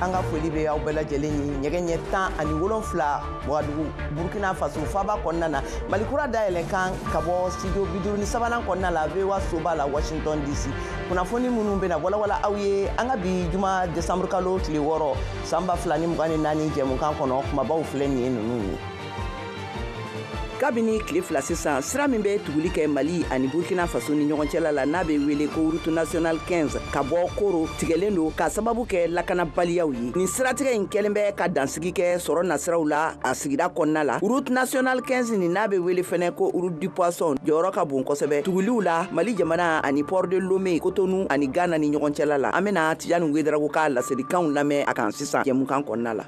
an ka foli bɛ aw bɛɛ lajɛlen ye nɛgɛ ɲɛ tan ani wolonfila wagadugu burkina faso faaba kɔnɔna na mali kura dayɛlɛ kan ka bɔ studio biduuru ni sabanan kɔnɔna la voa soba la washington dc kunnafoni minnu bɛna walawala aw ye an ka bi juma desanburukalo tile wɔɔrɔ san ba fila ni mugan ni naani jɛmukan kɔnɔ kumabaw filɛ nin ye ninnu ye kabini tile fila sisan sira min bɛ tuguli kɛ mali ani burkina faso ni ɲɔgɔn cɛla la n'a bɛ wele ko route nationale 15 ka bɔ koro tigɛlen don ka sababu kɛ lakanabaliyaw ye nin siratigɛ in kɛlen bɛ ka dansigi kɛ sɔrɔ nasiraw la a sigida kɔnɔna la route nationale 15 nin n'a bɛ wele fɛnɛ ko route du poisson jɔyɔrɔ ka bon kosɛbɛ tuguliw la mali jamana ani port de lome kotonu ani ghana ni ɲɔgɔn cɛla la an bɛna tijani wedraogo ka laselikanw lamɛn a kan sisan jɛmukan kɔnɔna la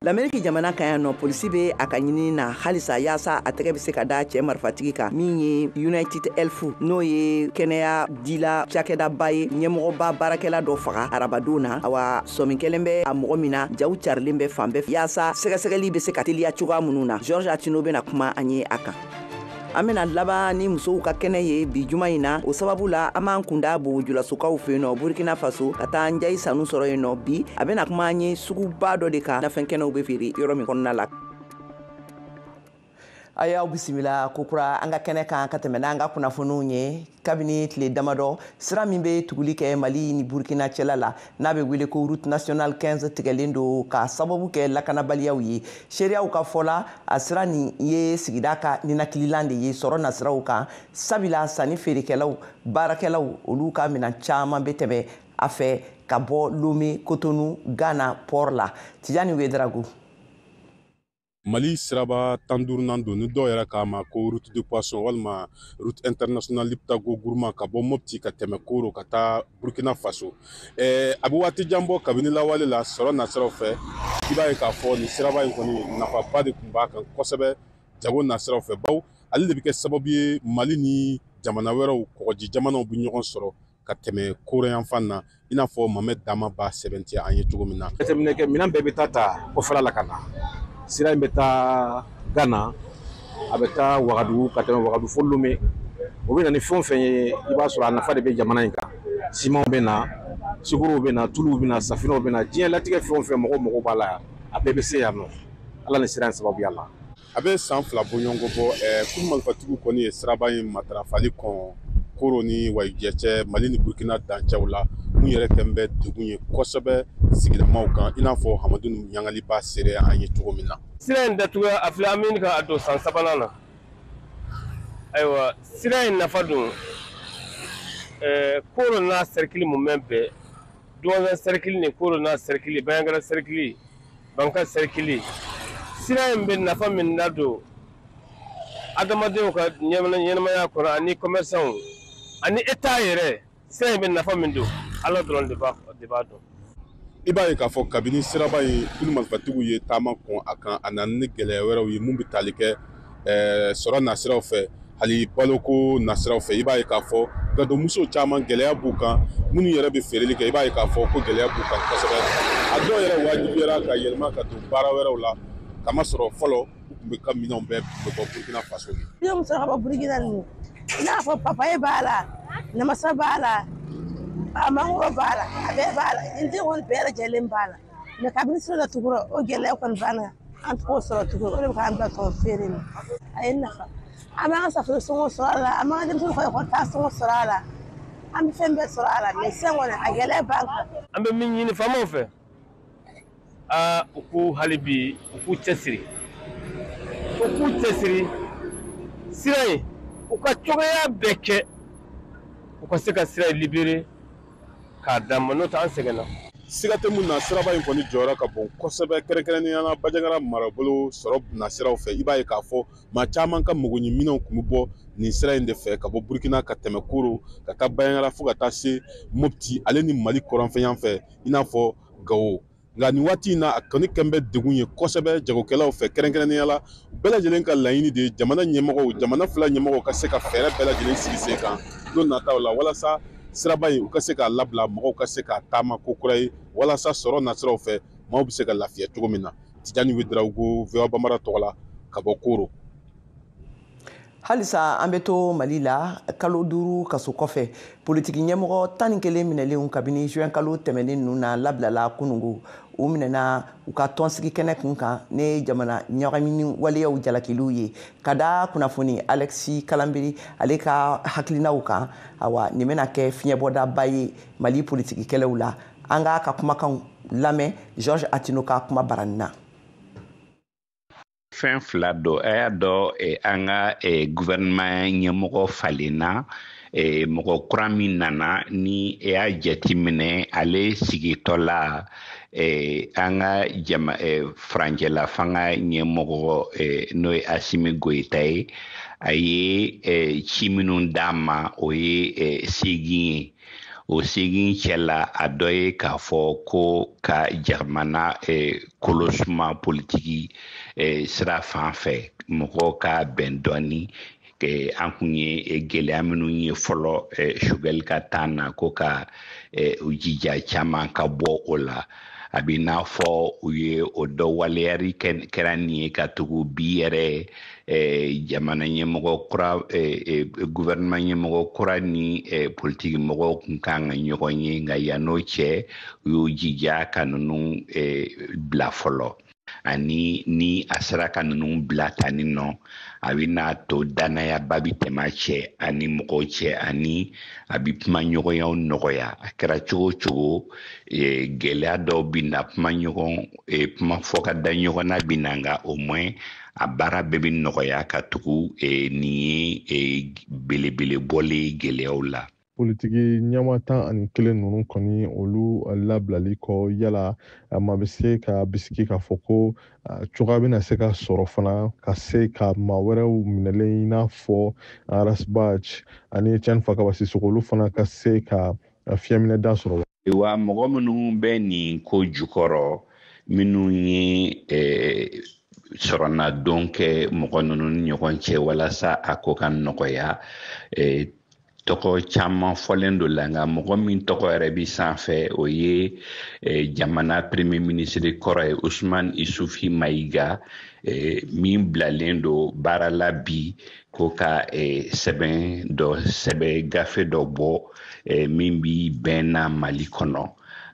lamɛriki jamana kan yan nɔ polisi bɛ a ka ɲinini na halisa yaasa a tɛgɛ bɛ se ka da cɛ marifatigi kan min ye united health n'o ye kɛnɛya dila cakɛdaba ye ɲɛmɔgɔba baarakɛla dɔ faga arabadon na awa sɔmi kɛlen bɛ a mɔgɔ min na jaw carilen bɛ fan bɛɛ fɛ yaasa sɛgɛsɛgɛli bɛ se ka teliya cogoya minnu na george atino bɛna kuma an ye a kan an bena laban ni musow ka kɛnɛ ye bi juma in na o sababu la an b'an kunda bobojulasokaw fɛ yen nɔ burkina faso ka taa njayi sanu sɔrɔ yen nɔ bi a bena kuma an ye suguba dɔ de kan nafɛn kɛnɛw be feere yɔrɔ min kɔnɔna la a y'aw bisimila kokura an ka kɛnɛ kan ka tɛmɛ n'an ka kunnafoniw ye kabini tile damadɔ sira min be tuguli kɛ mali ni burkina cɛla la n'a bɛ wele ko route nationale 15 tigɛlen don k'a sababu kɛ lakanabaliyaw ye seereyaw ka fɔ la a sira nin ye sigida ka ninakililan de ye sɔrɔ nasiraw kan sabila sanni feerekɛlaw baarakɛlaw olu ka minan caman bɛ tɛmɛ a fɛ ka bɔ lome kotonu ghana port la tijani wedraogo mali siraba tan duurunan don ni dɔw yɛrɛ k'a ma ko route de poisson walima route internationale liptako gourma ka bɔ mopti ka tɛmɛ koro ka taa burkina faso eh, a bɛ waati jan bɔ kabini lawale la sɔrɔ nasiraw fɛ i b'a ye k'a fɔ nin siraba in kɔni nafaba de tun b'a kan kosɛbɛ jago nasiraw fɛ bawo ale de bɛ kɛ sababu ye mali ni jamana wɛrɛw kɔgɔji jamanaw bɛ ɲɔgɔn sɔrɔ ka tɛmɛ koro yanfan na i n'a fɔ mohamed dama b'a sɛbɛntiya an ye cogo min na jateminɛkɛ minɛn bɛɛ bɛ taa ta kɔfɛla la ka na sira in bɛ taa ghana a bɛ taa wagadugu ka tɛmɛ wagadugu fo lome u bɛ na ni fɛn o fɛn ye i b'a sɔrɔ a nafa de bɛ jamana in kan simanw bɛ na sukorow bɛ na tuluw bɛ na safinɛw bɛ na diɲɛ latigɛ fɛn o fɛn mɔgɔ mago b'a la a bɛɛ bɛ se yan nɔ ala ni sira in sababuya la a bɛ san fila bɔɲɔgɔnko bɔ ko marifatigiw kɔni ye siraba in matarafali kɔn koro ni wayijɛ cɛ mali ni burukina dancɛw la mun yɛrɛ kɛn bɛ degun ye kosɛbɛ sigidamaaw kan i n'a fɔ hamadu ɲangali b'a seereya an ye cogo min na sira in datugu a filɛ an bɛ ka don san sabanan na ayiwa sira in nafa dun koro n'a serikili mun bɛ bɛn duwanza serikili ni koro n'a serikili bajangara serikili banka sɛrikili sira in bɛ nafa min nadon adamadenw ka ɲɛnamaya kɔnɔ ani kɔmɛrisanw ani etat yɛrɛ sira in bɛ nafa min don ala dɔrɔn de b'a dɔn i b'a ye k'a fɔ kabini siraba in kulu marifatigiw ye taama kɔn a kan a nana ni gɛlɛya wɛrɛw ye mun bɛ tali kɛ ɛɛ sɔrɔ nasiraw fɛ hali baloko nasiraw fɛ i b'a ye k'a fɔ gadonmuso caman gɛlɛya b'u kan minnu yɛrɛ bɛ feereli kɛ i b'a ye k'a fɔ ko gɛlɛya b'u kan kosɛbɛ a dɔw yɛrɛ wajibiyara ka yɛlɛma ka don baara wɛrɛw la kamasɔrɔ fɔlɔ u tun bɛ ka minɛnw bɛɛ bɔ burukina faso de. ne muso ka bɔ burukina ninnu i n'a fɔ papaye b'a la namasa b'a la a mangoro b'a la a bɛɛ b'a la jiriden kɔni bɛɛ lajɛlen b'a la. mɛ kabini sira datugura o gɛlɛya kɔni banna an t'o sɔrɔ tuguni o de bɛ k'an bila tɔn feere in na a ye nafa an b'an ka safunɛ sɔngɔ sɔrɔ a la an b'an ka denmisɛnninw ka ekɔli taa sɔngɔ sɔrɔ a la an bɛ fɛn bɛɛ sɔrɔ a la mɛ sisan kɔni a gɛlɛya b'an kan an bɛ min ɲini faamaw fɛ aa u k'u hali bi u k'u cɛsiri u k'u cɛsiri sira in u ka cogoya bɛɛ kɛ u ka se ka sira in libere k'a d'an ma n'o tɛ an sɛgɛnna siga tɛ mun na siraba in kɔni jɔyɔrɔ ka bon kosɛbɛ kɛrɛnkɛrɛnnenya la bajangara marabolo sɔrɔ nasiraw fɛ i b'a ye k'a fɔ maa caman ka magoɲɛminɛnw tun bɛ bɔ nin sira in de fɛ ka bɔ burukina ka tɛmɛ koro ka taa bajangara fo ka taa se mopti ale ni mali kɔrɔnfɛ yan fɛ i n'a fɔ gawo nka nin waati in na a kɔni kɛn bɛ degun ye kosɛbɛ jagokɛlaw fɛ kɛrɛnkɛrɛnnenya la u bɛɛ lajɛlen ka laɲini de ye jamana ɲɛmɔgɔw jamana fila ɲɛmɔgɔw ka se ka fɛɛrɛ bɛɛ lajɛlen sigi sen kan don nataw la walasa siraba in u ka se k'a labila mɔgɔw ka se k'a taama ko kura ye walasa sɔrɔ nasiraw fɛ maaw bɛ se ka lafiya cogo min na tijani wederawogo voa bambara tɔgɔ la ka bɔ koro halisa an bɛ to mali la kalo duuru kaso kɔfɛ politiki ɲɛmɔgɔ tan ni kelen minɛlenw kabini juin kalo tɛmɛnen ninnu na labilala kunungo u minɛna u ka tɔnsigi kɛnɛ kun kan ni jamana ɲagamini waleyaw jalakiliw ye ka da kunnafoni alexis kalanbiri ale ka hakilinaw kan awa nin bɛna kɛ fiɲɛbɔdaba ye mali politiki kɛlɛw la an k'a ka kumakanw lamɛn george atino ka kuma baranin na fɛn fila don a y'a dɔn eh, an ka eh, gouvernement ɲɛmɔgɔ falenna eh, mɔgɔ kura min nana ni e y'a jateminɛ ale sigitɔ la an ka jama furancɛla fanga ɲɛmɔgɔ n'o ye asimi goyita ye a ye ci minnu d'a ma o ye segin ye o segin cɛla a dɔ ye k'a fɔ ko ka jamana eh, kolosuma politiki eh, sira fan fɛ mɔgɔw ka bɛn dɔɔni eh, an kun ye eh, gɛlɛya minnu ye fɔlɔ eh, sogɛli ka tan na ko ka eh, u jija caman ka bɔ o la a bɛ n'a fɔ u ye o dɔ waleyali kɛra nin ye ka tugu bi yɛrɛ eh, jamana ɲɛmɔgɔ kura eh, eh, gouvernement ɲɛmɔgɔ kura ni politiki mɔgɔw kun kan ka ɲɔgɔn ye nka yann'o cɛ u y'u jija ka ninnu bila fɔlɔ ani ni a sera ka ninnu bila tani nɔ a bɛ n'a to dannayaba bɛ tɛmɛ a cɛ ani mɔgɔw cɛ ani a bɛ kumaɲɔgɔnyaw nɔgɔya a kɛra cogo cogo e, gɛlɛya dɔw bɛ na kuma ɲɔgɔn e, kuma fɔ ka da ɲɔgɔn na bɛ na nka au moins a baara bɛɛ bɛ nɔgɔya ka tugu e, nin ye belebele bɔlen ye gɛlɛyaw la politiki ɲɛmaa tan ani kelen ninnu kɔni olu labilali kɔ yala maa bɛ se ka bisiki k'a fɔ ko cogoya bɛna se ka sɔrɔ fana ka se ka maa wɛrɛw minɛlen i n'a fɔ Ras Bath ani Etienne fakaba sisoko olu fana ka se ka fiɲɛminɛda sɔrɔ wa mɔgɔ minnu bɛ nin ko jukɔrɔ minnu ye eh, sɔrɔnadon kɛ mɔgɔ ninnu ni ɲɔgɔn cɛ walasa a ko ka nɔgɔya eh, tɔgɔ caman fɔlen don la nka mɔgɔ min tɔgɔ yɛrɛ bi sanfɛ o ye eh, jamana premier ministre kɔrɔ ye usman isufi mayiga eh, min bilalen don baara la bi ko ka eh, sɛbɛn dɔ sɛbɛn gafe dɔ bɔ eh, min bi bɛn na mali kɔnɔ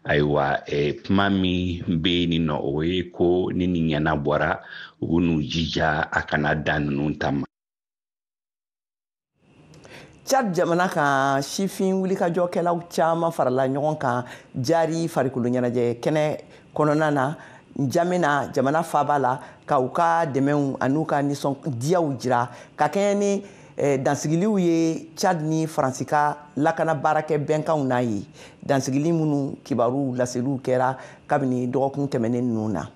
ayiwa eh, kuma min bɛ yen nin nɔ o ye ko ni nin ɲɛnabɔra u bɛ n'u jija a kana dan ninnu ta ma Chad jamana kan sifin wulikajɔkɛlaw caman farala ɲɔgɔn kan jari farikoloɲɛnajɛ kɛnɛ kɔnɔna na Njamena jamana faaba la ka u ka dɛmɛw an'u ka nisɔndiyaw jira ka kɛɲɛ ni eh, dansigiliw ye Chad ni Faransi ka lakana baarakɛ bɛnkanw n'a ye dansigili minnu kibaruw laseliw kɛra kabini dɔgɔkun tɛmɛnen ninnu na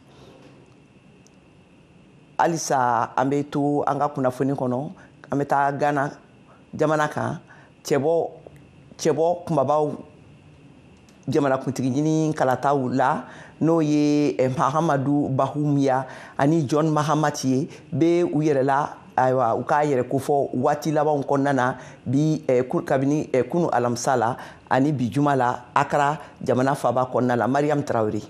halisa an bɛ to an ka kunnafoni kɔnɔ an bɛ taa gana jamana kan eh, cɛbɔ kunbabaw jamanakuntigi ɲini kalataw la n'o ye eh, mahamadu bawumiya ani john mahamati ye bɛ u yɛrɛ la ayiwa u ka yɛrɛ kofɔ waati labanw kɔnɔna na bi eh, kabini eh, kunu alamisa la ani bi juma la akara jamana faaba kɔnɔna la mariyamu tarawele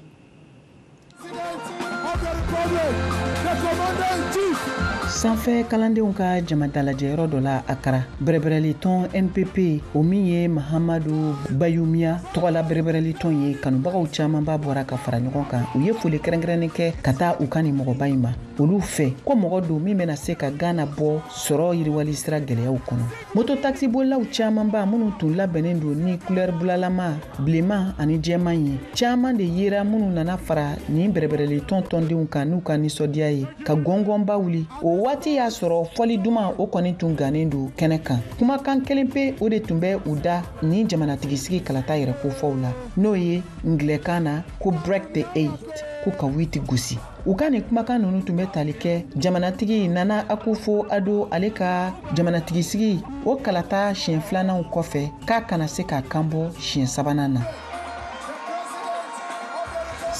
sanfɛ kalandenw ka jamadalajɛyɔrɔ dɔ la akara bɛrɛbɛrɛlitɔn npp o min ye mahamadu bawumiya tɔgɔla bɛrɛbɛrɛlitɔn ye kanubagaw camanba bɔra ka fara ɲɔgɔn kan u ye foli kɛrɛnkɛrɛnnen kɛ ka taa u ka nin mɔgɔba in ma olu fɛ ko mɔgɔ don min bɛna se ka gana bɔ sɔrɔ yiriwali sira gɛlɛyaw kɔnɔ moto takisibolilaw camanba minnu tun labɛnnen don ni kulɛri bulalama bilenman ani jɛman ye caaman de yera minnu nana fara nin bɛrɛbɛrɛli tɔn tɔndenw kan n'u ka nisɔndiya ye ka gɔngɔnba wuli o waati y'a sɔrɔ fɔli duman o kɔni tun gannen don kɛnɛ kan kumakan kelen pe o de tun bɛ u da nin jamanatigisigi kalata yɛrɛ kofɔw la n'o ye angilɛkan na ko break the eight ko ka witi gosi u ka nin kumakan nunu tun bɛ tali kɛ jamanatigi nana akufo addo ale ka jamanatigisigi o kalata siɲɛ filananw kɔfɛ k'a kana se k'a kanbɔ siɲɛ sabanan na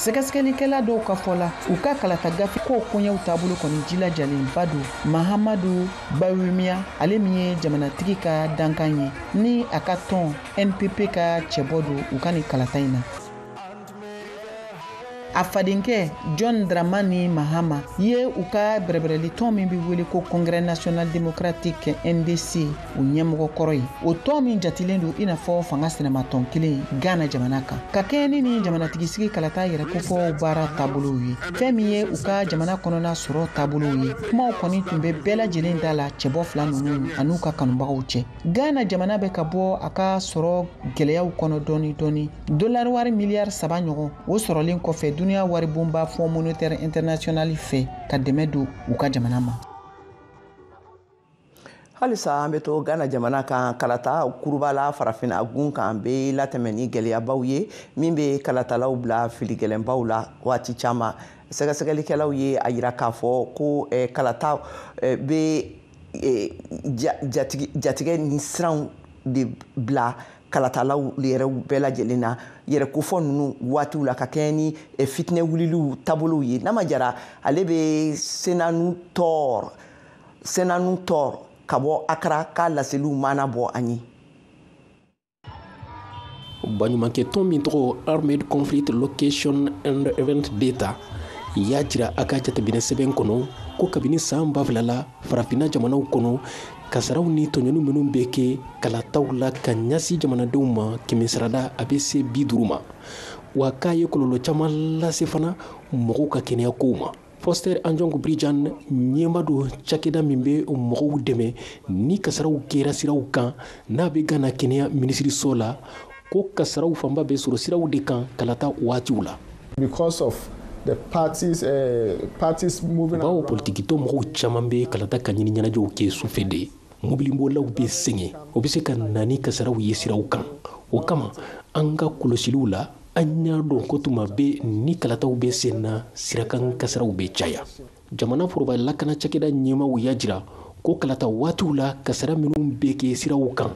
sɛgɛsɛgɛlikɛla dɔw ka fɔ la u ka kalata gafe ko koɲɛw taabolo kɔni jilajalenba don mahamadu bawumiya ale min ye jamanatigi ka dankan ye ni a ka tɔn npp ka cɛbɔ don u ka nin kalata in na a fadenkɛ john dramani mahama ye u ka bɛrɛbɛrɛli tɔn min bɛ wele ko congrès national démocratique ndc o ɲɛmɔgɔ kɔrɔ ye o tɔn min jatilen don i n'a fɔ fanga sinamatɔn kelen ghana jamana kan ka kɛɲɛ ni nin jamanatigisigi kalata yɛrɛ kofɔw baara taabolow ye fɛn min ye u ka jamana kɔnɔna sɔrɔ taabolow ye kumaw kɔni tun bɛ bɛɛ lajɛlen da la cɛbɔ fila ninnu an'u ka kanubagaw cɛ ghana jamana bɛ ka bɔ a ka sɔrɔ gɛlɛyaw kɔnɔ dɔɔni dɔɔni dolari wari miliyari saba ɲɔgɔn o sɔrɔlen kɔfɛ duniya waribonba fonds monétaire international fɛ ka dɛmɛ don u ka jamana ma halisa an bɛ to gana jamana kan kalata kuruba la farafina gun kan bɛ latɛmɛ ni gɛlɛyabaw ye min bɛ kalatalaw bila filigɛlɛnbaw la waati caman sɛgɛsɛgɛlikɛlaw ye a yira k'a fɔ ko eh, kalata eh, bɛ eh, jatigɛ ni siranw de bila kalatalaw yɛrɛw bɛɛ lajɛlen na yɛrɛkofɔ ninnu waatiw la ka kɛɲɛ ni eh, fitinɛ wuliliw taabolow ye nama jara ale bɛ senanu tɔɔr senanu tɔɔr ka bɔ akara ka laseliw maana bɔ an ye baɲumankɛ tɔn min tɔgɔ armed conflict location and event data y'a jira a ka jateminɛ sɛbɛn kɔnɔ ko kabini san ba fila la farafinna jamanaw kɔnɔ kasaraw ni tɔɲɔni minnu bɛ kɛ kalataw la ka ɲasi jamanadenw ma kɛmɛsarada a bɛ se bi duuru ma wa k'a ye kɔlɔlɔ caman lase fana mɔgɔw ka kɛnɛya kow ma foster ansong bridjan ɲɛmaa don cakɛda min bɛ mɔgɔw dɛmɛ ni kasaraw kɛra siraw kan n'a bɛ gana kɛnɛya minisiriso la ko kasaraw fanba bɛ sɔrɔ siraw de kan kalata waatiw la because of the parties, uh, parties moving bawo politikitɔn mɔgɔw caman bɛ kalata kanɲini ɲɛnajɛw kɛ sufɛ de mobilibolilaw bɛ sɛgɛn o bɛ se ka na ni kasaraw ye siraw kan o kama an ka kɔlɔsiliw la an y'a dɔn ko tuma bɛɛ ni kalataw bɛ sen na sirakan kasaraw bɛ caya jamana foroba lakana cakɛda ɲɛmaaw y'a jira ko kalata waatiw la kasara minw be kɛ siraw kan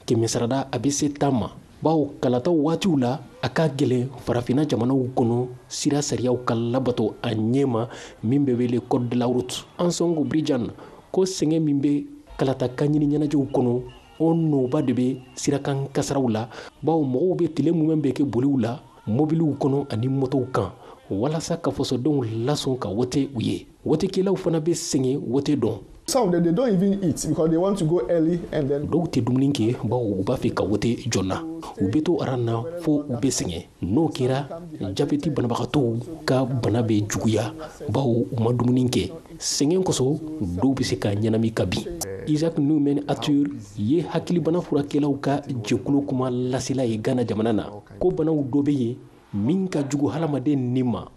kɛmɛsarada a be se tan ma bawo kalata waatiw la a ka gɛlɛn farafina jamanaw kɔnɔ sira sariyaw ka labato a ɲɛma min be wele code de la route ansong bridjan ko sɛgɛn min be kalata kanɲini ɲɛnajɛw kɔnɔ o nɔba de bɛ sirakan kasaraw la bawo mɔgɔw bɛ tile mumɛ bɛɛ kɛ boliw la mobiliw kɔnɔ ani motow kan walasa ka fasodenw lasɔn ka wote u ye wotekɛlaw fana bɛ sɛgɛn wote don Some of them, they don't even eat because they want to go early and then dɔw tɛ dumuni kɛ bawo u b'a fɛ ka wote joona u bɛ to aran na fo u bɛ sɛgɛn n'o kɛra jabɛti banabagatɔw ka bana bɛ juguya bawo u ma dumuni kɛ sɛgɛn kosɔn dɔw bɛ se ka ɲɛnami ka bin isaac newman arthur ye hakilibana furakɛlaw ka jɛkulu kuma lasela ye gana jamana na ko banaw dɔ bɛ yen min ka jugu hadamaden ni ma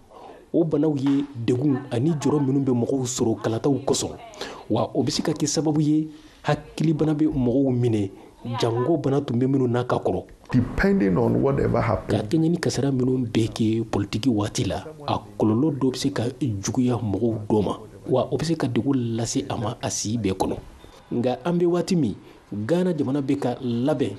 o banaw ye degun ani jɔrɔ minnu bɛ mɔgɔw sɔrɔ kalataw kosɔn wa o bɛ se ka kɛ sababu ye hakilibana bɛ mɔgɔw minɛ jango bana tun bɛ minnu na ka kɔrɔ depending on whatever happened. Ka kɛɲɛ ni kasara minnu bɛ kɛ politiki waati la, a kɔlɔlɔ dɔ bɛ se ka juguya mɔgɔw dɔ ma, wa o bɛ se ka degun lase a ma a si bɛɛ kɔnɔ. nka an bɛ waati min ghana jamana bɛ ka labɛn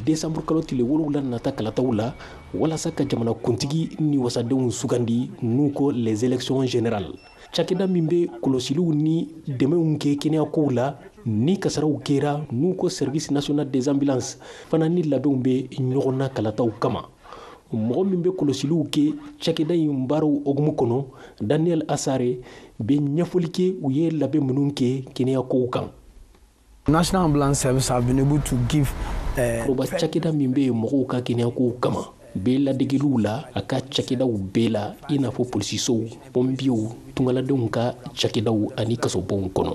desanburu kalo tile wolonwula nata kalataw la walasa ka jamana kuntigi ni wasadenw sugandi n'u ko les élections générales cakɛda min bɛ kɔlɔsiliw ni dɛmɛw kɛ kɛnɛyakow la ni kasaraw kɛra n'u ko service national des ambulances fana ni labɛnw bɛ ɲɔgɔn na kalataw kama mɔgɔ min bɛ kɔlɔsiliw kɛ cakɛda in baaraw hokumu kɔnɔ daniel asare bɛ ɲɛfɔli kɛ u ye labɛn minnu kɛ kɛnɛyakow kan national ambulance service have been able to give eh, foroba cakɛda min bɛ mɔgɔw ka kɛnɛyakow kama bɛ ladegeliw la a ka cakɛdaw bɛɛ la i n'a fɔ polisisow pɔnpiyew tungaladenw ka cakɛdaw ani kasobonw kɔnɔ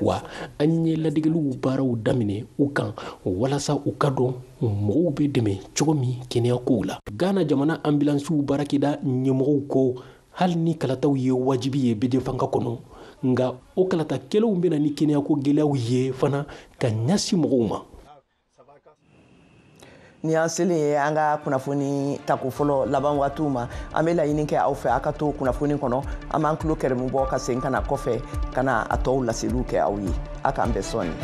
wa an ye ladegeliw baaraw daminɛ u kan walasa u ka dɔn mɔgɔw bɛ dɛmɛ cogo min kɛnɛya kow la ghana jamana anbilansiw baarakɛda ɲɛmɔgɔw ko hali ni kalataw ye wajibi ye bɛɛjɛfanga kɔnɔ nka o kalata kelenw bɛna ni kɛnɛyako gɛlɛyaw ye fana ka ɲasi mɔgɔw ma nin y'an selen ye an ka kunnafoni tako fɔlɔ laban waatiw ma an bɛ laɲini kɛ aw fɛ aw ka to kunnafoni kɔnɔ an b'an tulo kɛrɛmu bɔ ka segin ka na kɔfɛ ka na a tɔw laseliw kɛ aw ye a k'an bɛn sɔɔni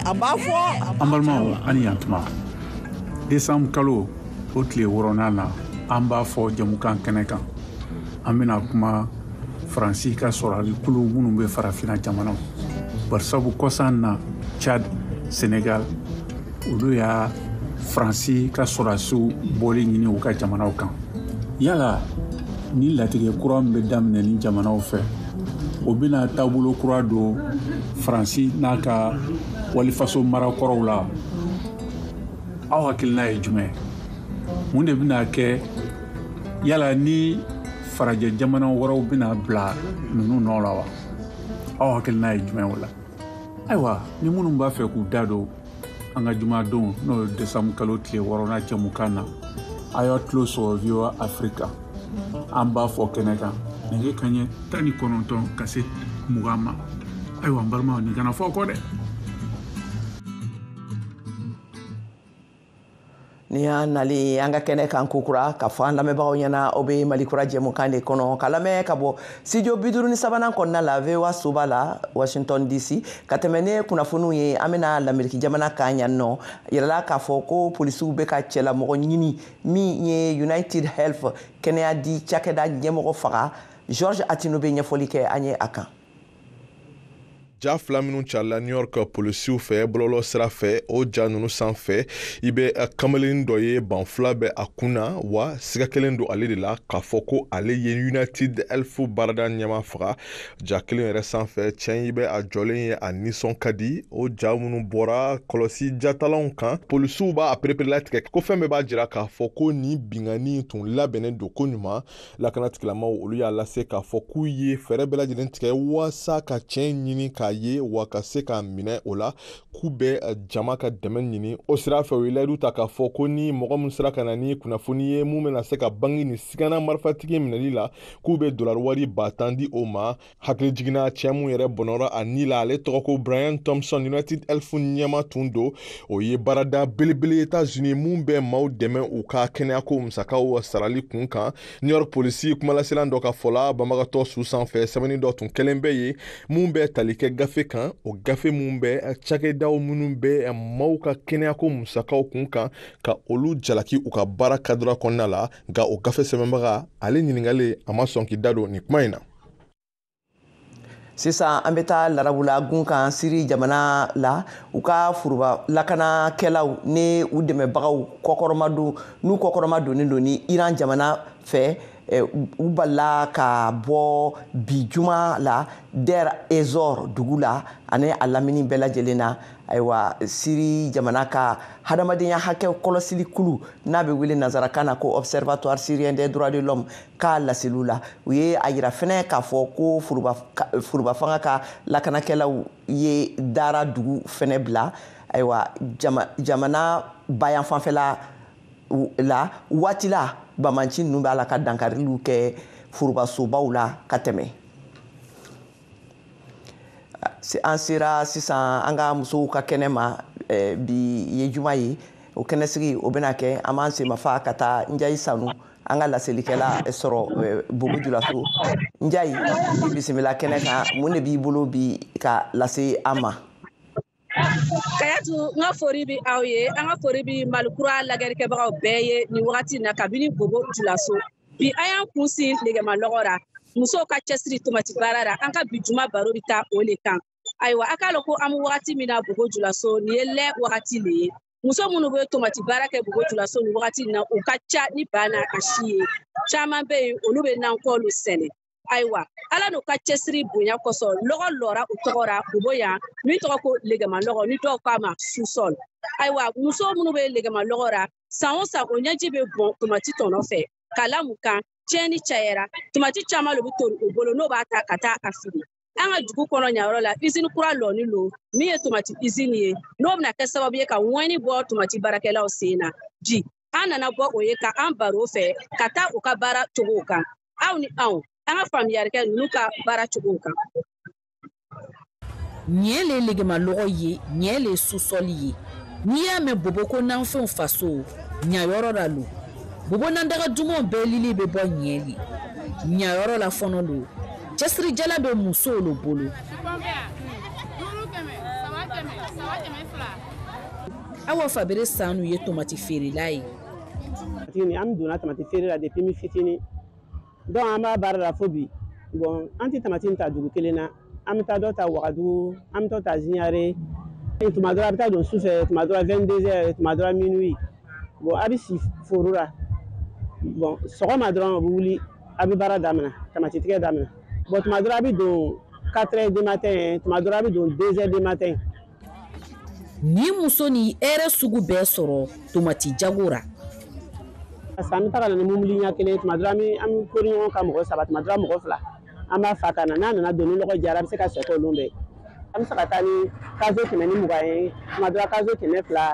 an b'a fɔ an balimaw ani yantuma desanbu kalo o tile wɔɔrɔnan na an b'a fɔ jɛmukan kɛnɛ kan an bɛna kuma faransi ka sɔrɔdasi kulu minnu bɛ farafina jamanaw barisabu kɔsan na chad senegal olu y'a faransi ka sɔrɔdasiw bɔli ɲini u ka jamanaw kan yala nin latigɛ kura min bɛ daminɛ nin jamanaw fɛ o bɛna taabolo kura don faransi n'a ka walifaso mara kɔrɔw la aw hakilina ye jumɛn mun de bɛna kɛ yala ni farajɛ jamana wɛrɛw bɛna bila ninnu nɔ la wa aw hakilina ye jumɛn o la ayiwa ni minnu b'a fɛ k'u da don an ka jumadon n'o ye desanbu kalo tile wɔɔrɔnan jɛmukan na a y'a tulo sɔrɔ voa afrika an b'a fɔ kɛnɛ kan nɛgɛ kanɲɛ tan ni kɔnɔntɔn ka se mugan ma ayiwa n balimaw nin kana fɔ kɔ dɛ nin y'an nali an ka kɛnɛ kan kokura k'a fɔ an lamɛnbagaw ɲɛna aw bɛ malikura jɛmukan de kɔnɔ ka lamɛn ka bɔ studio bi duuru ni sabanan kɔnɔna la voa soba la washington dc ka tɛmɛ ni kunnafoniw ye an bɛna lameriki jamana kan yan n'o yirala k'a fɔ ko polisiw bɛ ka cɛlamɔgɔ ɲini min ye united health kɛnɛya di cakɛda ɲɛmɔgɔ faga george atino bɛ ɲɛfɔli kɛ an ye a kan ja fila minnu carila new york polisiw fɛ bɔlɔlɔ sira fɛ o ja nunu sanfɛ i bɛ eh, kamalen dɔ ye banfula bɛ a kun na wa siga kɛlen don ale de la k'a fɔ ko ale ye united health baarada ɲɛma faga ja kelen yɛrɛ sanfɛ cɛn i bɛ a jɔlen ye a nisɔn ka di o ja minnu bɔra kɔlɔsi jatalanw kan polisiw b'a pereperelatigɛ ko fɛn bɛɛ b'a jira k'a fɔ ko nin binkanni tun labɛnnen don koɲuman lakana tigilamaw olu y'a lase k'a fɔ k'u ye fɛɛrɛ bɛɛ lajɛlen tigɛ waasa ka cɛ in ɲini k'a ye wa ka se k'a minɛ o la k'u bɛ eh, jama ka dɛmɛ ɲini o sira fɛ u ye layidu ta k'a fɔ ko ni mɔgɔ min sera ka na ni kunnafoni ye mun bɛna se ka bangi ni sigana marifatigi minɛli la k'u bɛ dolari wari ba tan di o ma hakilijigin na cɛ mun yɛrɛ bɔnɔra a ni la ale tɔgɔ ko brian thompson united health ɲɛmaa tun don o ye baarada belebele etats unis mun bɛ maaw dɛmɛ u ka kɛnɛyako musakaw sarali kun kan new york polisi kumalaselan dɔ ka fɔ la banbagatɔ su sanfɛ sɛbɛnni dɔ tun kɛlen bɛ ye mun bɛ tali kɛ gafe kan o gafe mun bɛ cakɛdaw minnu bɛ maaw ka kɛnɛyako musakaw kun kan ka olu jalaki u ka baara kadira kɔnɔna la nka o gafe sɛbɛnbaga ale ɲininkalen a ma sɔn k'i da don nin kuma in na sisan an bɛ taa larabula gun kan siri jamana la u ka foroba lakanakɛlaw ni u dɛmɛbagaw kɔkɔrɔmadon n'u kɔkɔrɔmadonnen don ni iran jamana fɛ eh, u balala ka bɔ bi juma la der ezor dugu la ani a lamini bɛɛ lajɛlen na ayiwa siri jamana ka hadamadenya hakɛ kɔlɔsili kulu n'a bɛ wele nansarakan na ko observatoire syrien des droits de l'homme ka laseliw la u ye a yira fɛnɛ k'a fɔ ko forobafanga ka lakanakɛlaw ye dara dugu fɛnɛ bila ayiwa jamana bayanfanfɛla la waati la banbaanci ninnu b'a la ka dankariliw kɛ forobasobaw la ka tɛmɛ an sera sisan an ka musow ka kɛnɛ ma eh, bi ye juma ye o kɛnɛsigi o bɛna kɛ an b'an senmafa ka taa njayi sanu an ka laselikɛla sɔrɔ bobo julaso njayi i bisimila kɛnɛ kan mun de b'i bolo bi ka lase an ma kayatu n ka fori bi aw ye an ka fori bi malikura lagɛrikɛbagaw bɛɛ ye nin wagati na kabini bobo julaso bi an y'an kun sin legema lɔgɔ ra musow ka cɛsiri tomati baara ra an ka bi juma baro bi taa o le kan ayiwa a k'a lɔn ko an be wagati min na bobo julaso nin ye lɛ wagati le ye muso minnu bɛ tomati baara kɛ bobo julaso nin wagati na u ka ca ni ba n'a ka si ye caman bɛ yen olu bɛ nankɔlu sɛnɛ ayiwa ala n'u ka cɛsiri bonya kosɔn lɔgɔ lɔra u tɔgɔ ra bobo yan min tɔgɔ ko legema lɔgɔ ni dɔw k'a ma susɔl ayiwa muso minnu bɛ legema lɔgɔ ra san o san o ɲɛji bɛ bɔn tomati tɔnɔ fɛ k'a la mun kan tiɲɛni cayɛra tomati caman lo bɛ tori u bolo n'o b'a ta ka taa a fili an ka dugu kɔnɔ ɲayɔrɔ la izini kura lɔni lo min ye tomati izini ye n'o bɛna kɛ sababu ye ka ŋɔni bɔ tomati baarakɛlaw sen na bi an nana bɔ o ye ka an baro fɛ ka taa u ka baara cogow kan aw ni anw an ka faamuyali kɛ ninnu ka baara cogow kan yan le legemalɔgɔ ye yan le susɔli ye n'i y'a mɛn bobo ko nanfɛnw faso yan yɔrɔ la lo bobo nandaga dumanw bɛɛ lili bɛ bɔ ɲɛli ɲayɔrɔ la fɔnɔ lo cɛsirijala bɛ musow lo bolo awa fabere sanu ye tomati feerela ye an donna tomati feere la depuis n fitini donc an b'a baara la fo bi bon an tɛ tamati ta dugu kelen na an bɛ taa dɔ ta wagadugu an bɛ dɔ ta ziɲare tuma dɔ ra a bɛ taa don su fɛ tuma dɔ ra vingt-deux heures tuma dɔ ra minuit bon a bɛ si foro la bon sɔgɔma dɔrɔn a bɛ wuli a bɛ baara daminɛ tamati tigɛ daminɛ bon tuma dɔ ra a bɛ don quatre heures du matin tuma dɔ ra a bɛ don deux heures du matin ni muso ni hɛrɛ sugu bɛɛ sɔrɔ tomati jago ra parce que an bɛ taga na ni mobili ɲɛ kelen tuma dɔ an bɛ an bɛ kori ɲɔgɔn kan mɔgɔ saba tuma dɔ mɔgɔ fila an b'a fa ka na n'a nana don ni lɔgɔ diyara an bɛ se ka sɛko olu bɛɛ an bɛ se ka taa ni cageot kɛmɛ ni mugan ye tuma dɔ cageot kɛmɛ fila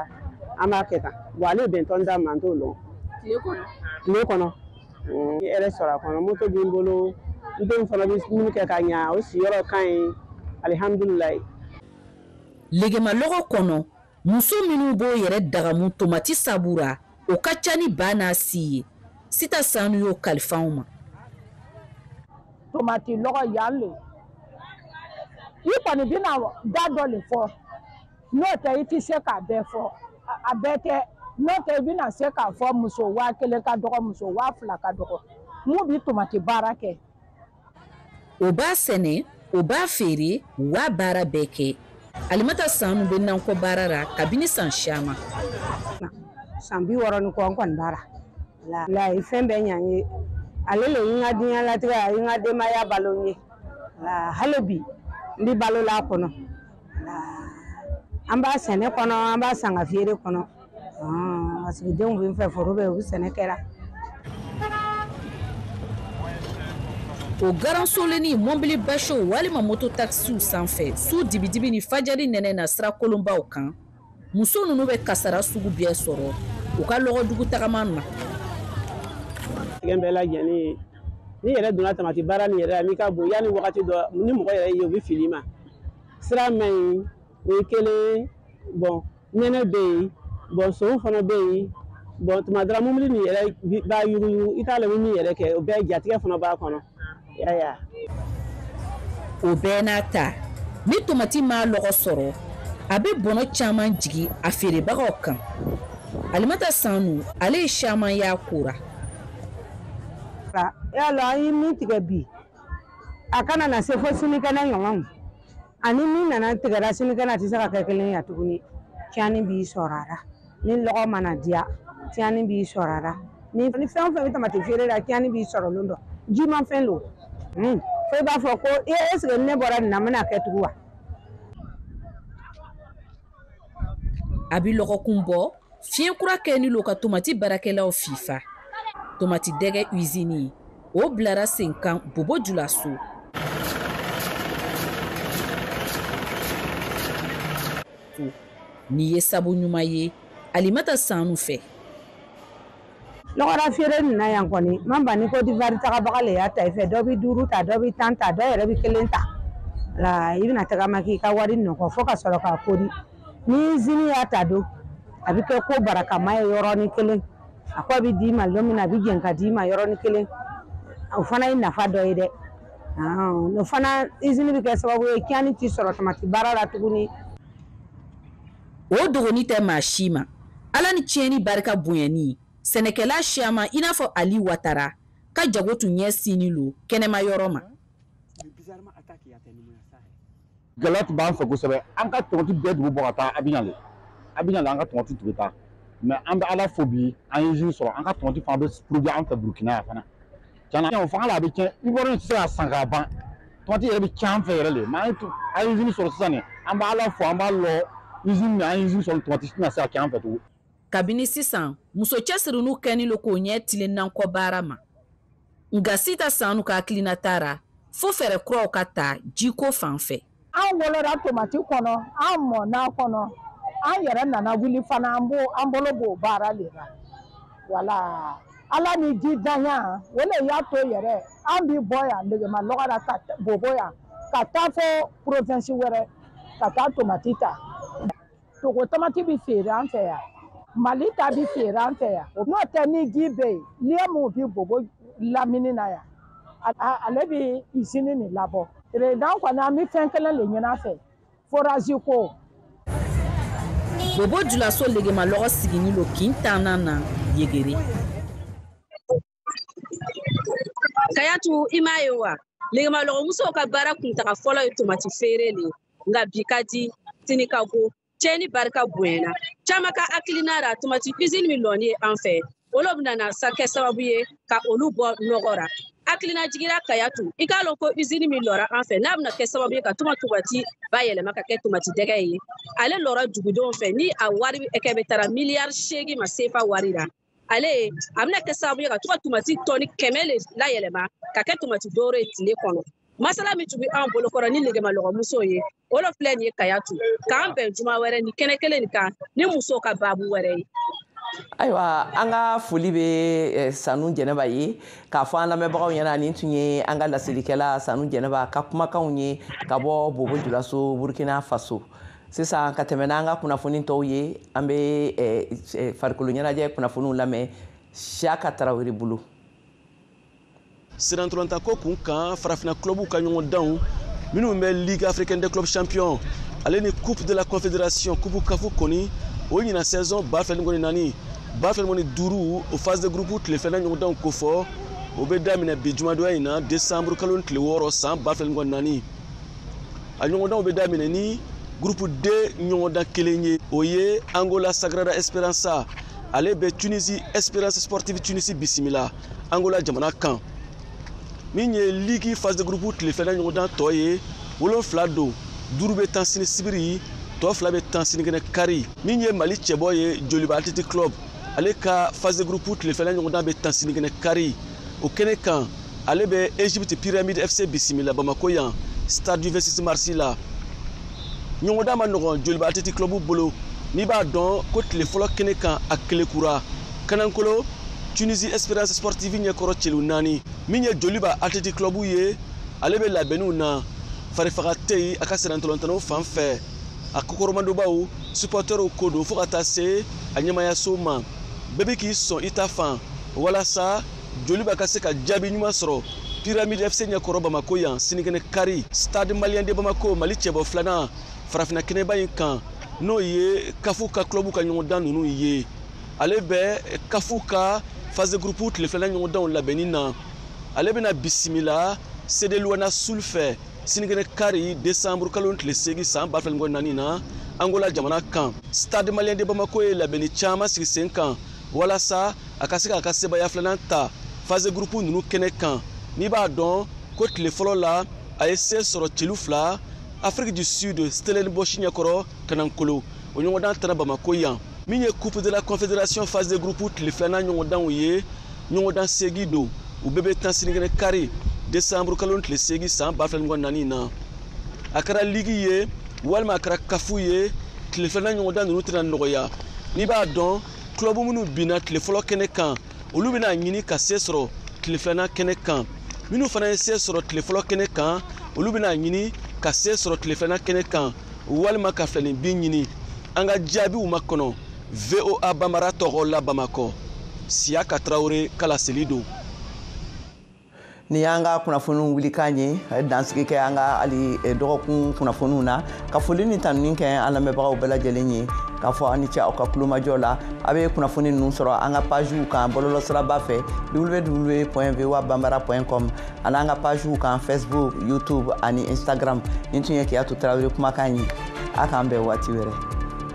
an b'a kɛ tan wa ale bɛn tɔn da ma n t'o lɔn tile kɔnɔ N ye hɛrɛ sɔrɔ a kɔnɔ moto bɛ n bolo n denw fana bɛ dumuni kɛ ka ɲa o siyɔrɔ ka ɲi alihamdulilayi. Legemalɔgɔ kɔnɔ, muso minnu b'o yɛrɛ dagamu tomati sabu ra, o ka ca ni ba n'a si ye. Sita Sanu y'o kalifa anw ma. Tomati lɔgɔ yan le, i kɔni bɛna da dɔ le fɔ. n'o tɛ i tɛ se k'a bɛɛ fɔ a bɛɛ tɛ n'o tɛ i bɛna se k'a fɔ muso waa kelen ka dɔgɔ muso waa fila ka dɔgɔ min bɛ tomati baara kɛ. o b'a sɛnɛ o b'a feere wa baara bɛɛ kɛ alimata sanu bɛ nankɔ baara la kabini san siyaman. san bi wɔɔrɔ ni kɔ nankɔ baara le ye fɛn bɛɛ ɲa n ye ale le ye n ka diɲɛ latigɛ ye n ka denbaya balo n ye hali bi n bɛ balo la a kɔnɔ. an b'a sɛnɛ kɔnɔ an b'a san ka feere kɔnɔ parce que denw bɛ n fɛ foro bɛ u bɛ sɛnɛ kɛra o garansolenni mɔbili basew walima moto takisiw sanfɛ su dibidibi ni fajari nɛnɛ na sira kolonbaw kan muso ninnu bɛ kasara sugu bɛɛ sɔrɔ u ka lɔgɔdugu tagama na tigɛ bɛɛ lajɛlen ye n'i yɛrɛ donna tamati baara nin yɛrɛ la n'i ka bon yanni wagati dɔ ni mɔgɔ yɛrɛ ye u bɛ fili i ma sira man ɲi o ye kelen bon nɛnɛ bɛ yen bon sonw fana bɛ yen bon tuma dɔ ra mobili nin yɛrɛ b'a yuguyugu i t'a lɔn min yɛrɛ kɛ o bɛɛ jatigɛ fana b'a kɔnɔ o bɛɛ n'a ta ni tomati ma lɔgɔ sɔrɔ a bɛ bɔnɔ caman jigi a feerebagaw kan alimata sanu ale ye caman y'a ko ra y'a lɔn an ye min tigɛ bi a kana na se fo sinikɛnɛ ɲɔgɔn ani min nana tigɛra sinikɛnɛ a tɛ se ka kɛ kelen ye tuguni tiɲɛni b'i sɔrɔ a la ni lɔgɔ ma na diya tiɲɛni b'i sɔrɔ a la ni fɛn o fɛn bɛ tamati feere la tiɲɛni b'i sɔrɔ lon dɔ jimafɛn don hmm. fo i b'a fɔ ko ee eseke ne bɔra nin na n bɛna a kɛ tugun wa a bɛ lɔgɔkun bɔ fiɲɛ kura kɛni lo ka tomati baarakɛlaw fifa tomati dɛgɛ usini o bilara sen kan bobo julaso nin ye sabu ɲuman ye alimata sanu fɛ lɔgɔra feere nin na yan kɔni ma ban ni kodiwari tagabaga le y'a ta i fɛ dɔ bɛ duuru ta dɔ bɛ tan ta dɔ yɛrɛ bɛ kelen ta la i bɛna tagama k'i ka wari nɔgɔ fo ka sɔrɔ k'a kori ni izini y'a ta don a bɛ kɛ ko barakama ye yɔrɔnin kelen a kɔ bɛ d'i ma don min na a bɛ jɛn ka d'i ma yɔrɔnin kelen o fana ye nafa dɔ ye dɛ o fana izini bɛ kɛ sababu ye tiɲɛni t'i sɔrɔ tamati baara la tuguni o dogoni tɛ maa si ma ala ni tiɲɛni barika bonyani sɛnɛkɛla siyama i n'a fɔ ali watara ka jago tun ɲɛsinni lo kɛnɛma yɔrɔ ma gɛlɛya tun b'an fɛ kosɛbɛ an ka tomati bɛɛ tun bɛ bɔ ka taa abijan le abijan le an ka tomati tun bɛ taa mɛ an bɛ ala fo bi an ye izini sɔrɔ an ka tomati fana bɛ porodiwi an fɛ burukina yan fana Tiɲɛna o fanga la a bɛ tiɲɛ Ivoirien tɛ se k'a san k'a ban tomati yɛrɛ bɛ tiɲɛ an fɛ yɛrɛ de mais an ye an ye usine sɔrɔ sisan nin an bɛ Ala fo an b'a lɔn usine min an ye usine sɔrɔ tomati tɛna se ka tiɲɛ an fɛ tugun. Kabini sisan muso cɛsiriniw kɛni lo k'o ɲɛ tilen nankɔ baara ma nka Sita Sanu ka hakilinata ra fo fɛɛrɛ kuraw ka ta jiko fan fɛ. an wolola tomati kɔnɔ an mɔna a kɔnɔ an yɛrɛ nana wuli fana an b'o an bolo b'o baara le la wala ala ni ji danya o le y'a to yɛrɛ an bi bɔ yan legema lɔgɔ la ka bobo yan ka taa fo provinsi wɛrɛ ka taa tomati ta togo tamati bɛ feere an fɛ yan mali ta bɛ feere an fɛ yan n'o tɛ ni ji bɛ yen liyɛ minw bɛ bobo lamini na yan ale bɛ izini nin labɔ perezidan kɔni an bɛ fɛn kelen le ɲini a fɛ forazi ko bobo julaso legemalɔgɔ sigini lo kin tannan na yegere kayatu i m'a ye wa legemalɔgɔmusow ka baara kuntaga fɔlɔ ye tomati feere le nka bi ka di sini ka go cɛni barika bonyana caman ka hakilina ra tomati usine min lɔni ye an fɛ o lo bɛna na se ka kɛ sababu ye ka olu bɔ nɔgɔ ra hakilinajigi ra kayatu i k'a lɔn ko usine min lɔra an fɛ n'a bɛna kɛ sababu ye ka tuma tomati bayɛlɛma ka kɛ tomati dɛgɛ ye ale lɔra dugudenw fɛ ni a wari hakɛ bɛɛ taara miliyari seegin ma sefa wari ra ale a bɛna kɛ sababu ye ka to ka tomati tɔni kɛmɛ le layɛlɛma ka kɛ tomati dɔwɛrɛ ye tile kɔnɔ masala min tun bɛ an bolokɔrɔ ni legemalɔgɔ musow ye o lo filɛ nin ye ka yan to k'an bɛn juma wɛrɛ ni kɛnɛ kelen nin kan ni musow ka baabu wɛrɛ ye ayiwa an ka foli bɛ eh, sanu jɛnɛba ye k'a fɔ an lamɛnbagaw ɲɛna nin tun ye an ka laselikɛla sanu jɛnɛba ka kumakanw ye ka bɔ bobo julaso burkina faso sisan ka tɛmɛ n'an ka kunnafoni tɔw ye an bɛ eh, eh, farikolo ɲɛnajɛ kunnafoniw lamɛn siyaka tarawele bolo sennantolatanko kun kan farafina clubw ka ɲɔgɔndanw minnu bɛ ligue africaine des clubs champions ale ni coupe de la confédération coupe kafu kɔni o ɲina saison ba fila ni mugan ni naani ba fila ni mugan ni duuru o phase de groupe tile filanan ɲɔgɔndanw kofɔ o bɛ daminɛ bi jumadonya in na décembre kalo tile wɔɔrɔ san ba fila ni mugan ni naani a ɲɔgɔndanw bɛ daminɛ ni gurupu d ɲɔgɔndan kelen ye o ye angola sagrada esperança ale bɛ tunisi esperance sportive tunisi bisimila angola jamana kan min ye ligi phase de groupe tile filanan ɲɔgɔndan tɔ ye wolonfila don duuru bɛ tan sini sibiri tɔ fila bɛ tan sinikɛnɛ kari min ye mali cɛbɔ ye joliba athletic club ale ka phase de groupe tile filanan ɲɔgɔndan bɛ tan sinikɛnɛ kari o kɛnɛ kan ale bɛ egypte pyramide fc bisimila bamako yan stade du 26 mars la ɲɔgɔndan man nɔgɔn joliba athletic club bolo n'i b'a dɔn ko tile fɔlɔ kɛnɛ kan a kelekura kanankolo tunisie espérance sportive ɲɛkɔrɔ celu naani min ye joliba athletic club ye ale bɛ labɛnniw na farifaga tɛ yen a ka sennantolatannaw fan fɛ a kɔkɔrɔmadonbaw supɔtɛrw ko don fo ka taa se a ɲɛmaayaso ma bɛɛ bɛ k'i sɔn i ta fan walasa joliba ka se ka jaabi ɲuman sɔrɔ pyramide fc ɲɛkɔrɔ bamako yan sinikɛnɛ kari stade malien de bamako mali cɛbɔ filanan farafinna kɛnɛba in kan n'o ye kafu ka club ka ɲɔgɔndan ninnu ye ale bɛ kafu ka phase groupe tile filanan ɲɔgɔndanw labɛnni na ale bɛna bisimila cd lunda sul fɛ sinikɛnɛ kari desanburu kalo tile seegin san ba fila ni mugan naani na angola jamana kan stade malien de bamako ye labɛnni caman sigi sen kan walasa a ka se k'a ka sebaaya filanan ta phase de groupe ninnu kɛnɛ kan n'i b'a dɔn ko tile fɔlɔ la a ye se sɔrɔ celu fila afrique du sud stellenbosch ɲɛkɔrɔ kanankolo o ɲɔgɔndan tanna bamako yan min ye coupe de la confédération phase de groupe tile filanan ɲɔgɔndanw ye ɲɔgɔndan seegin don u bɛɛ bɛ tan sininkɛnɛ kari desanburu kalo tile seegin san ba fila ni mugan naani na a kɛra ligi ye walima a kɛra kafu ye tile filanan ɲɔgɔndan ninnu tɛna nɔgɔya n'i b'a dɔn kulɔbu minnu binna tile fɔlɔ kɛnɛ kan olu bɛna ɲini ka se sɔrɔ tile filanan kɛnɛ kan minnu fana ye se sɔrɔ tile fɔlɔ kɛnɛ kan olu bɛna ɲini ka se sɔrɔ tile filanan kɛnɛ kan walima ka filaninbin ɲini an ka jaabiw makɔnɔ voa banbara tɔgɔ la bamakɔ siyaka tarawele ka laseli don nin y'an ka kunnafoniw wulikan ye dansigi kɛ an ka hali eh, dɔgɔkun kunnafoniw na ka foli ni tanuni kɛ an lamɛnbagaw bɛɛ lajɛlen ye k'a fɔ aw ni ce aw ka tulomajɔ la a bɛ kunnafoni ninnu sɔrɔ an ka paziw kan bɔlɔlɔsiraba fɛ www pɔn voa banbara pɔn com ani an ka paziw kan facebook youtube ani instagram nin tun ye kiyatu tarawele kumakan ye a k'an bɛn waati wɛrɛ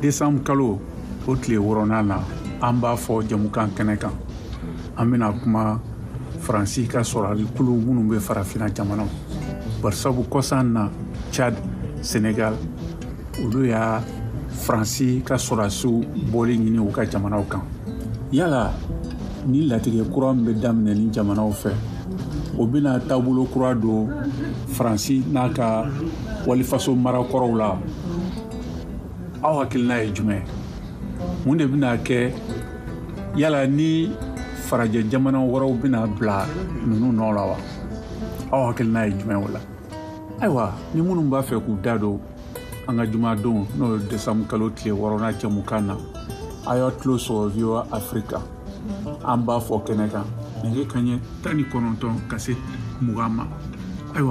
desanburu kalo o tile wɔɔrɔnan na an b'a fɔ jamukan kɛnɛ kan an bɛna kuma faransi ka sɔrɔdasikulu minnu bɛ farafina jamanaw barisabu kɔsan na chad senegal olu y'a faransi ka sɔrɔdasiw bɔli ɲini u ka jamanaw kan yala nin latigɛ kura min bɛ daminɛ nin jamanaw fɛ o bɛna taabolo kura don faransi n'a ka walifaso mara kɔrɔw la aw hakilina ye jumɛn mun de bɛna kɛ yala ni farajɛ jamana wɛrɛw bɛna bila ninnu nɔ la wa aw hakilina ye jumɛn o la ayiwa ni minnu b'a fɛ k'u da don an ka jumadon n'o ye desanburu kalo tile wɔɔrɔnan jamukan na a y'a tulo sɔrɔ voa afirika an b'a fɔ kɛnɛ kan nɛgɛ kaɲɛ tan ni kɔnɔntɔn ka se mugan ma